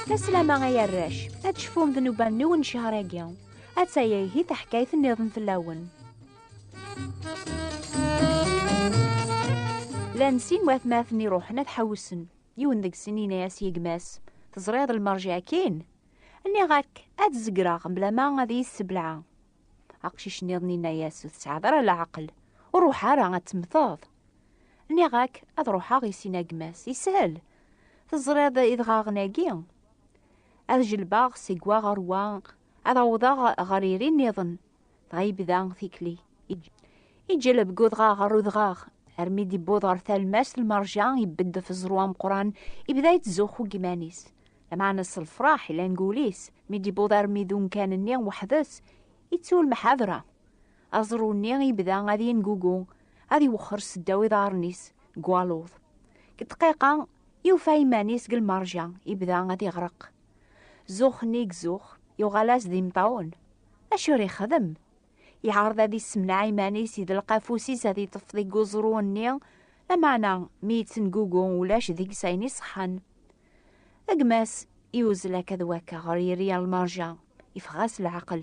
Taslama ay arrac, ad tecfum ddnuba-nniwen ccehṛ-agi. Atta ihi taḥkayt nniḍen fell-awen. Llan sin watmaten iruḥen ad ḥewsen. Yiwen deg-sen yenna-as i gma-s, Teẓriḍ lmerj akin? Nniɣ-ak, ad zegreɣ mblama ad iyi-ssebleɛ. Aqcic-nniḍen inna-yas, ur tesɛiḍ ara leɛqel, ur ruḥ ara ad temmteḍ. Nniɣ-ak ad ruḥeɣ i sin agmas, yeshel. Teẓriḍ idɣaɣen-agi? Ad jelbeɣ seg wa ɣer wa, ad awḍeɣ ɣer iri nniḍen, dɣa yebda tikli. Iǧeleb deg udɣaɣ ɣer udɣaɣ, armi d-iwweḍ ɣer talmast lmerja, ibeddef ẓẓru ameqran, ibda yettzuxxu deg iman-is. Lmeɛna s lefraḥ i langulis, mi d-yewweḍ armi d umkan-nni weḥd-s, ittu lmeḥadra. Aẓru-nni yebda ad yengugu, ad iwexxer seddaw iḍarren-is deg waluḍ. Deg ddqiqa, yufa iman-is deg lmerja, yebda ad iɣreq. Zzux-nni i izzux, yuɣal-as d imeṭṭawen. Acu ara yexdem? Iɛreḍ ad issemneɛ iman-is, idleq afus-is ad iṭṭef deg uẓru-nni, lameɛna mi yettengugu ulac deg-s ayen iṣeḥḥan. A gma-s, iwzel akka d wakka ɣer yiri a lmerja, ifɣa-s leɛqel.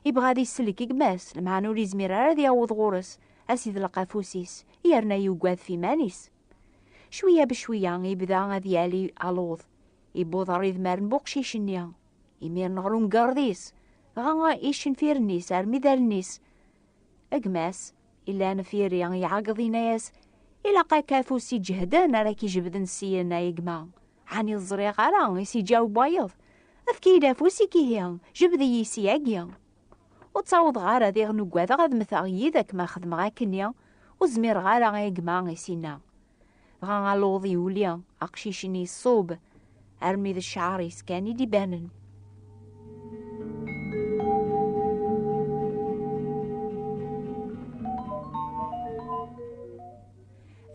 Ibɣa ad isellek i gma-s, lemɛan ur izmir ara ad yaweḍ ɣur-s, a s-idleq afus-is, yerna yugad f iman-is. Cwiya becwiya, ibda ad yali aluḍ, ibuḍ ɣer idmar n buqcic-nni, imiren ɣer umgerḍ-is, dɣa icenfiren-is armi d allen-is. A gma-s, Ilan firi iɛeggeḍ inna-yas, ilaq akka afus iǧehden ara k-ijebden syin a gma. Ɛni ẓriɣ ara i s-iǧaweb wayeḍ, efk-iyi-d afus-ik ihi, jebed-iyi ssyagi. Ur ttawḍeɣ ara diɣen ugadeɣ ad mmteɣ yid-k ma xedmeɣ akkenni, ur zmireɣ ara a gma i s-inna. Dɣa aluḍ yuli, aqcic-nni iṣub, armi d cceɛr-is kan i d-ibanen.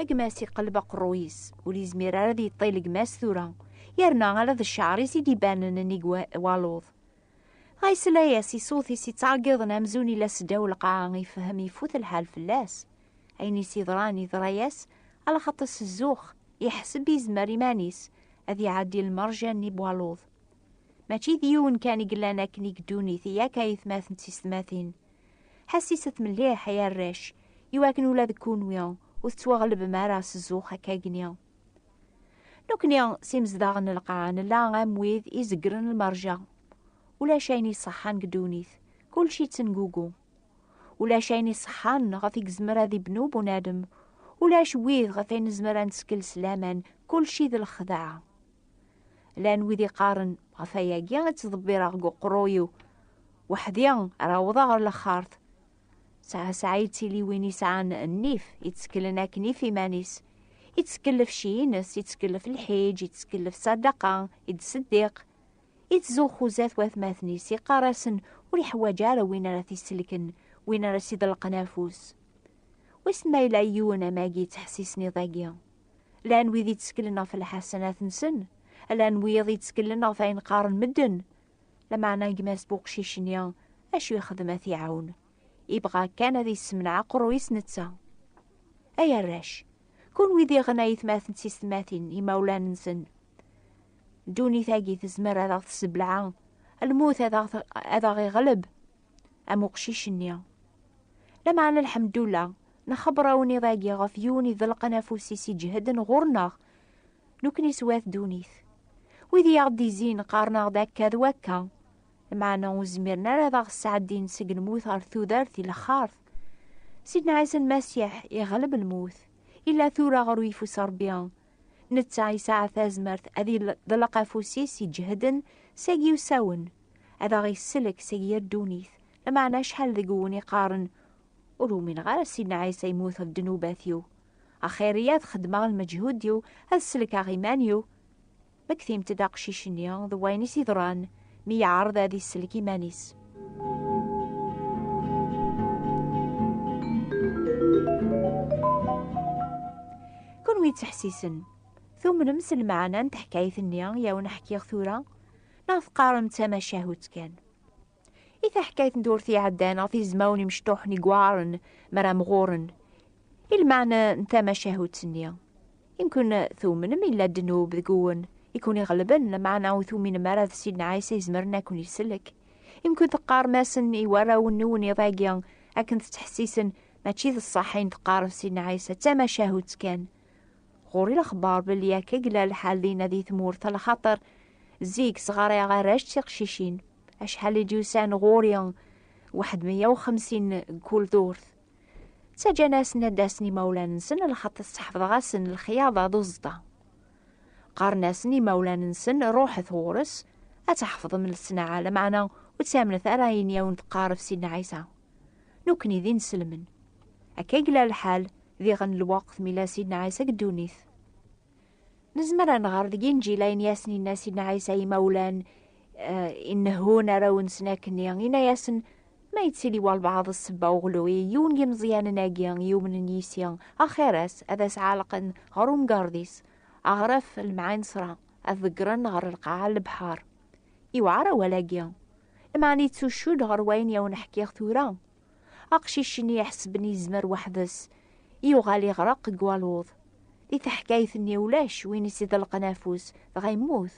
gma-s iqelleb aqerruy-is, ur yezmir ara ad yeṭṭil gma-s tura, yerna ala d cceɛr-is i d-ibanen nnig waluḍ. Dɣa yesla-as i ṣṣut-is yettɛeggiḍen amzun ila seddaw lqaɛa, ifehhem ifut lḥal fell-as. ayen i s-yeḍran yeḍra-yas ala xaṭi s zzux iḥseb izmer iman-is ad iɛeddi lmerja-nni n waluḍ mačči d yiwen kan i yellan akken i ddunit yak ay atmaten d tiysetmatin ḥassiset mliḥ ay arrac iwakken ula deg kunwi ur tettwaɣlebem ara s zzux akkagni nekkni s imezdaɣ n lqaɛa nella am wid i zegren lmerja ulac ayen iṣeḥḥan deg ddunit kulci ttengugu ulac ayen iṣeḥḥan ɣef i yezmer ad ibnu bunadem ulac wid ɣef ay nezmer ad nettkel s laman kulci d lexdaɛ llan wid iqqaren ɣef ayagi ad ttḍebbireɣ deg uqerruy-iw weḥdi ara awḍeɣ ɣer laxart sɛa sɛa yettili win isɛan nnif itteklen akken if iman-is ittkellef cci-ines ittkellef lḥiǧ ittkellef sadaqa i d-seddiq Ittzuxxu zdat watmaten-is, iqqar-asen ur iḥwaǧ ara win ara t-isellken, win ara s-iḍelqen afus. Wissen ma yella yiwen am agi yettḥessisen iḍ-agi. Llan wid yetteklen ɣef lḥasanat-nsen, llan wiyaḍ yetteklen ɣef ayen qqaren medden. Lameɛna gma-s buqcic-nni, acu yexdem ad t-iɛawen? Ibɣa kan ad yessemneɛ aqerruy-is netta. Ay arrac, kunwi diɣen a yetmaten d tisetmatin, imawlan-nsen, ddunit-agi tezmer ad aɣ-tessebleɛ lmut ad aɣ-iɣleb am uqcic-nni lameɛna lḥemdullah nxebber awniḍ-agi ɣef yiwen idelqen afus-is iǧehden ɣur-neɣ nukni swat ddunit wid i aɣ-d-izin qqaren-aɣ-d akka d wakka lameɛna ur zmiren ara ad aɣ-sɛeddin seg lmut ɣer tudert i lexxart Sidna Ɛisa Lmasiḥ iɣleb lmut illa tura ɣer uyeffus Rebbi Netta yesɛa tazmert ad iḍleq afus-is iǧehden seg yiwsawen, ad aɣ-isellek seg yir ddunit, lameɛna acḥal deg-wen iqqaren, Ur umineɣ ara Sidna Ɛisa yemmut ɣef ddnubat-iw, axir-iyi ad xedmeɣ lmeǧhud-iw, ad sellkeɣ iman-iw, Mmektimt-d aqcic-nni d wayen i s-iḍran mi yeɛreḍ ad isellek iman-is. Kunwi yettḥessisen, tumnem s lmeɛna n teḥkayt-nni i awen-ḥkiɣ tura neɣ teqqarem d tamacahut kan? I taḥkayt n tewwurt iɛeddan ɣef izmawen imecṭuḥen i yuɛren mi ara mɣuren, i lmeɛna n tamacahut-nni. Imkun tumnem yella ddnub deg-wen i ken-iɣelben, lameɛna ur tuminem ara d Sidna Ɛisa izemren a ken-isellek. Imkun teqqarem-asen i warraw-nwen iḍ-agi akken tettḥessisen mačči d ṣṣeḥ ayen teqqarem Sidna Ɛisa, d tamacahut kan. Ɣur-i lexbar belli akka i yella lḥal dinna di tmurt, ala xaṭer zik sɣarayeɣ arrac d tiqcicin. acḥal i d-yusan ɣur-i waḥed meyya uxemsin kul durt ttaǧǧan-asen ad d-asen imawlan-nsen lxaṭi sseḥfḍeɣ-asen lexyaḍa d uẓeṭṭa qqaren-asen imawlan-nsen ruḥet ɣur-s ad tḥefḍem lesnaɛa lameɛna ur ttamnet ara ayen yawen teqqaref si nɛisa nukni d inselmen akka i yella lḥal diɣen lweqt mi la si nɛisa deg ddunit Nezmer ad nɣer deg inǧil ayen yasen inna Sidna Ɛisa imawlan eh, inehhun arraw-nsen akken inna-yasen ma yettili walbaɛḍ ssebba uɣlui yiwen n yimeẓyanen-agi yumnen yis-i axir-as ad as-ɛalqen ɣer umgarḍ-is aɣref lemɛinsra ad ḍeggren ɣer lqaɛa n lebḥer. Iwɛer awal-agi. Lmeɛna yettucud ɣer wayen yawen-ḥkiɣ tura. Aqcic-nni iḥesben yezmer weḥd-s, yuɣal iɣreq deg waluḍ. Di teḥkayt-nni ulac win i s-iḍelqen afus, dɣa yemmut.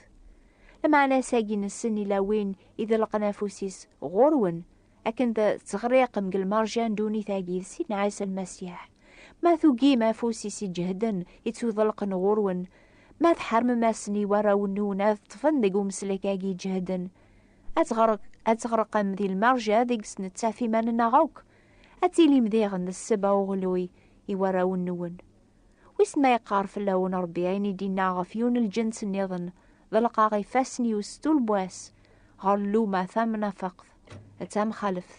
Lmeɛna-as-agi n ssen ila win iḍelqen afus-is ɣur-wen, akken d teɣriqem deg lmerja n ddunit-agi d Sidna Ɛisa Lmasiḥ. Ma tugim afus-is iǧehden i tt-uḍelqen ɣur-wen, ma tḥermem-asen i warraw-nwen ad ṭṭfen deg umeslek-agi iǧehden, ad teɣreq ad teɣreqem di lmerja deg-s nettaf iman-nneɣ akk ad tilim diɣen d sseba uɣluy i warraw-nwen wissen ma yeqqar fell-awen rebbi ayen i d-inna ɣef yiwen n lǧens nniḍen ḍelqeɣ ifassen-iw s tulbwa-s ɣer lluma tamnafaqt d tamxaleft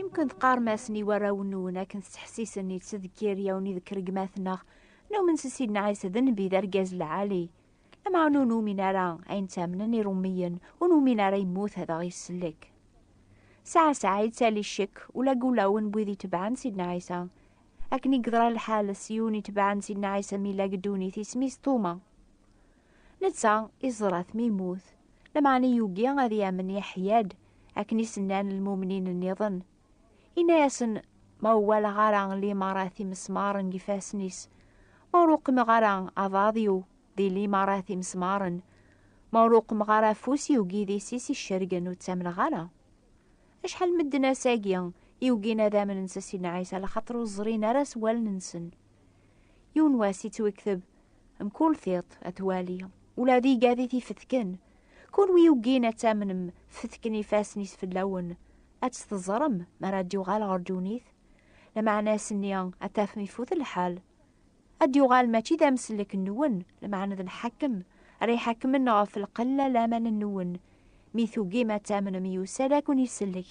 Imken tqarem-asen i warraw-nwen akken tettḥessisen i tsedkiryaw-nni deg rregmat-nneɣ, numen s Sidna Ɛisa d nnbi d argaz lɛali. Lameɛna ur numin ara ayen ttamnen irummiyen, ur numin ara yemmut ad aɣ-isellek. Saɛa saɛa yettali ccek ula deg ulawen n wid itebɛen Sidna Ɛisa. Akken i yeḍra lḥal s yiwen itebɛen Sidna Ɛisa mi yella deg ddunit isem-is Tuma. Netta iẓra-t mi yemmut, lameɛna yugi ad yamen Yeḥya-d, akken i s-nnan lmumnin nniḍen. Yenna-yasen, Ma ur walaɣ ara limarat imesmaren deg ifassen-is, ma ur uqmeɣ ara aḍad-iw di limarat imesmaren, ma ur uqmeɣ ara afus-iw deg idis-is icergen, ur ttamneɣ ara. Acḥal n medden ass-agi i ugin ad amnen s Sidna Ɛisa laxaṭer ur ẓrin ara s wallen-nsen. Yiwen wass yettwekteb mkul tiṭ ad twali ula d igad i t-ifetken. Kunwi yugin ad tamnem fetken ifassen-is fell-awen, ad tt-teẓrem mi ara d-yuɣal ɣer ddunit. Lameɛna ass-nni ad tafem ifut lḥal. Ad d-yuɣal mačči d amsellek-nwen, lameɛna d lḥakem, ara iḥakmen ɣef lqella laman-nwen. Mi tugim ad tamnem yusa-d ad ken-isellek.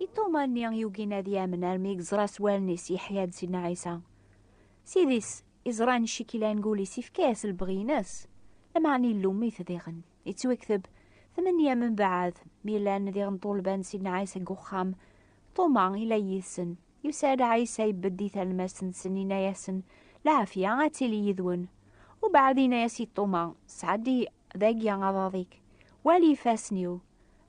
I Tuma-nni yugin ad yamen armi yeẓra s wallen-is yeḥya-d Sidna Ɛisa. Sidi-s iẓran icikila n gul-is ifka-as lebɣi-ines, lameɛna illum-it diɣen. Yettwekteb, tmenya membaɛd, mi llan diɣen ṭṭulba n Sidna Ɛisa deg uxxam, Tuma ila yid-sen. Yusa-d Ɛisa ibedd i talmast-nsen inna-yasen, Lɛafya ad tili yid-wen. Ubeɛd inna-yas i Tuma, Sɛeddi Dagi aḍad-ik, wali ifassen-iw,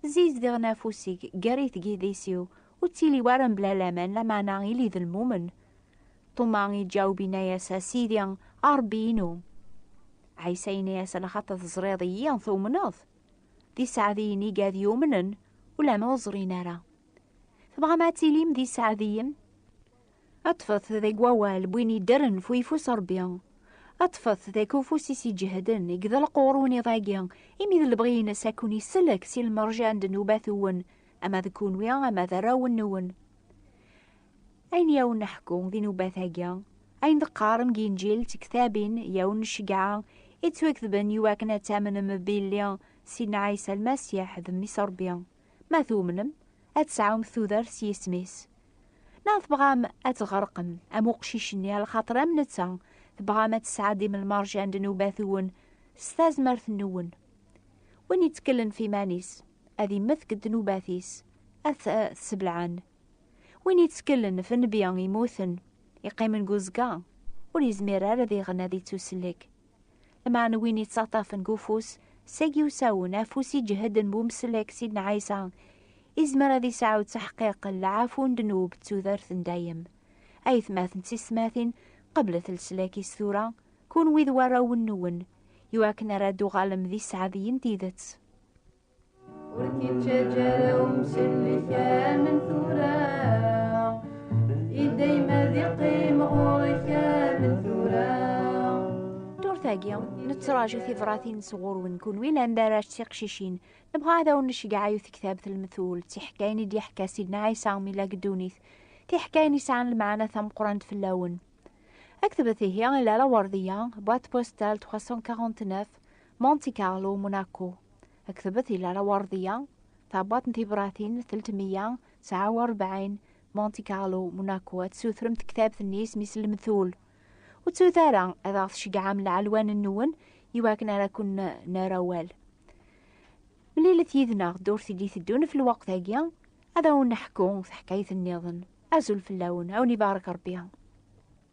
zizdiɣen afus-ik, gerrit gidis-iw, ur ttili ara mebla laman, lameɛna ili d lmumen. Tuma iǧaweb inna-yas, a Sidi, a Rebbi-inu. Ɛisa inna-yas, lxaṭer teẓriḍ-iyi, tumneḍ. D iseɛdiyen iga ad yumnen, ulama ur ẓrin ara. Tebɣam ad tilim d iseɛdiyen? Aṭfet deg wawal n win yeddren f uyeffus n Ṛebbi. Aṭfet deg ufus-is iǧehden, i yeḍelqur ur niḍ-agi, imi d lebɣi-ines ad ken-isellek si lmerja n ddnubat-nwen, ama d kunwi ama d arraw-nwen. Ayen i awen-neḥku di nnubat-agi, ayen d-qqaren deg Inǧil d tektabin i awen-nceggeɛ, i ttwaketben i wakken ad tamnem b Illi, Sidna Ɛisa Lmasiḥ, d Mmi-s n Ṛebbi. Ma tumnem, ad tesɛum tudert s yisem-is. Neɣ tebɣam ad tɣerqem am uqcic-nni a lxaṭer am netta, tebɣam ad tesɛeddim lmerja n ddnubat-wen s tazmert-nwen. Win yettkellen f iman-is, ad immet deg ddnubat-is, ad t-sebleɛen. Win yettkellen f nnbi yemmuten, iqqimen deg uzga, ur yezmir ara diɣen ad ittusellek. Lameɛna win yettaṭṭafen deg ufus, sagi usawen, afus iǧehden bu mselek Sidna Ɛisa, izmer ad isɛu ttaḥqiq n lɛafu n ddnub d tudert n dayem. Aytmaten d tistmatin, qeblet leslak-is tura, kunwi d warrawen-nwen, iwakken ara d-tuɣalem d iseɛdiyen n tidet. ur k-ittaǧǧ ara umsellek amen tura i dayem ad iqqim ɣur-k amen tura tagi nettraǧu tibratin sɣur-wen kunwi landa ara tiqcicin nebɣa ad awen-necgeɛ ayut kitab telmetul d tiḥkayin i d-yeḥka sidna ɛisa mi la geddunit tiḥkayin i sɛan lmeɛna tameqqrant fell-awen aktbet ihi i lala werdiya boîte postale 349 Monte Carlo, Monaco. Aktebet di Lara Wardiya, tabbat n tibratin 349, Monte Carlo, Monaco, ad tsutremt tektabt-nni isem-is Lemtul. Ur ttut ara ad aɣ-tceggɛem lɛelwan-nwen i wakken ara ken-nerr awal. Mlilet yid-neɣ ddurt i d-iteddun ɣef lweqt-agi, ad awen-neḥku taḥkayt-nniḍen. Azul fell-awen, ad wen-ibarek Rebbi.